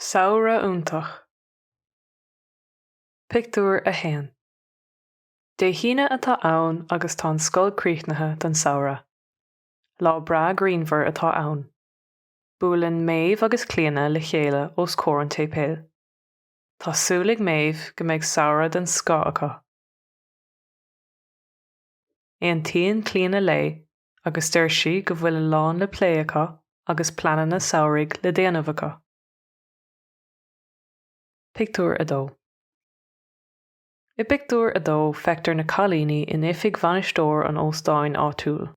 Samhradh iontach. Pictiúr 1 Dé hAoine atá ann agus tá an scoil críochnaithe don samhradh. Lá breá grianmhar atá ann. Buaileann Méabh agus Clíona le chéile os comhair an tséipéil. Tá súil ag Méabh go mbeidh samhradh den scoth acu. Aontaíonn Clíona léi agus deir sí go bhfuil a lán le plé acu agus pleananna samhraidh le déanamh acu. Pictiúr 2 I bpictiúr a dó feictear na cailíní in oifig bhainisteoir an óstáin áitiúil.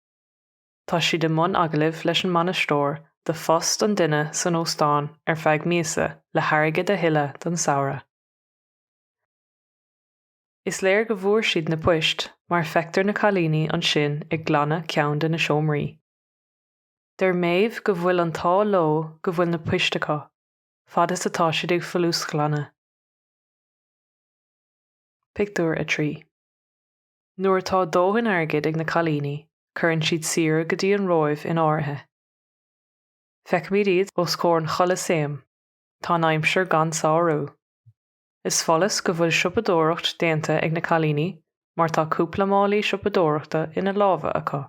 Tá siad i mbun agallaimh leis an mbainisteoir do phost an duine san óstán ar feadh míosa le hairgead a thuilleadh don samhradh. Is léir go bhfuair siad na poist mar feictear na cailíní ansin ag glanadh ceann de na seomraí. Deir Méabh go bhfuil an t-ádh leo go bhfuil na poist acu, fad is atá siad ag folúsghlanadh. Pictiúr 3 Nuair atá dóthain airgid ag na cailíní cuireann siad saoire go dtí an Róimh in áirithe. Feicimid iad os comhair an Cholasaeim, tá an aimsir gan sárú. Is follas go bhfuil siopadóireacht déanta ag na cailíní mar tá cúpla málaí siopadóireachta ina lámha acu.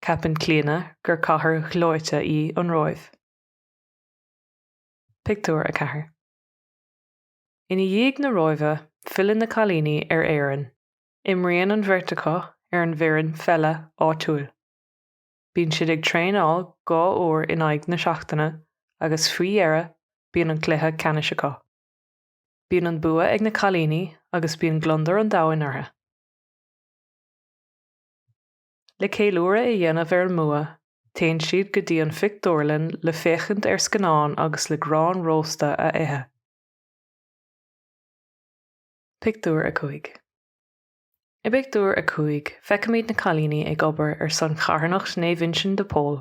Ceapann Clíona gur cathair ghleoite í an Róimh. Pictiúr 4 Ina dhiaidh na Róimhe, filleann na cailíní ar Éirinn. Imríonn an bheirt acu ar an bhfoireann pheile áitiúil. Bíonn siad ag traenáil dhá uair in aghaidh na seachtaine agus faoi dheireadh bíonn an cluiche ceannais acu. Bíonn an bua ag na cailíní agus bíonn gliondar an domhain orthu. Le ceiliúradh a dhéanamh ar an mbua, téann siad go dtí an phictiúrlann le féachaint ar scannán agus le grán rósta a ithe. Pictiúr 5 I bpictiúr a cúig, feicimid na cailíní ag obair ar son charthanacht Naomh Uinseann de Pól.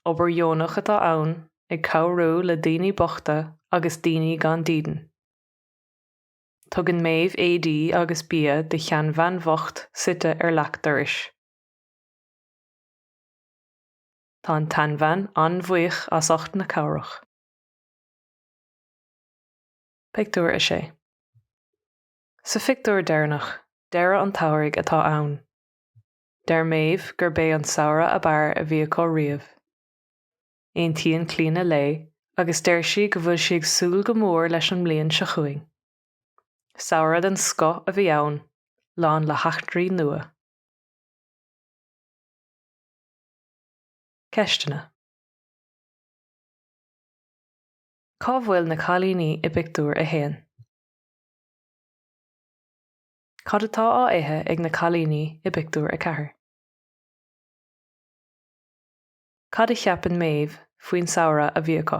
Obair dheonach atá ann, ag cabhrú le daoine bochta agus daoine gan dídean. Tugann Méabh éadaí agus bia do sheanbhean bhocht suite ar leac dorais. Tá an tseanbhean an-bhuíoch as ucht na cabhrach. Pictiúr a sé. Sa phictiúr deireanach, deireadh an tsamhraidh atá ann. Deir Méabh gurb é an samhradh ab fhearr a bhí acu riamh. Aontaíonn Clíona léi agus deir sí go bhfuil sí ag súil go mór leis an mbliain seo chugainn. Samhradh den scoth a bhí ann, lán le heachtraí nua. Ceisteanna. Cá bhfuil na cailíní i bpictiúr a haon? Cad atá á ithe ag na cailíní i bpictiúr a ceathair? Cad a cheapann Méabh faoin samhradh a bhí acu?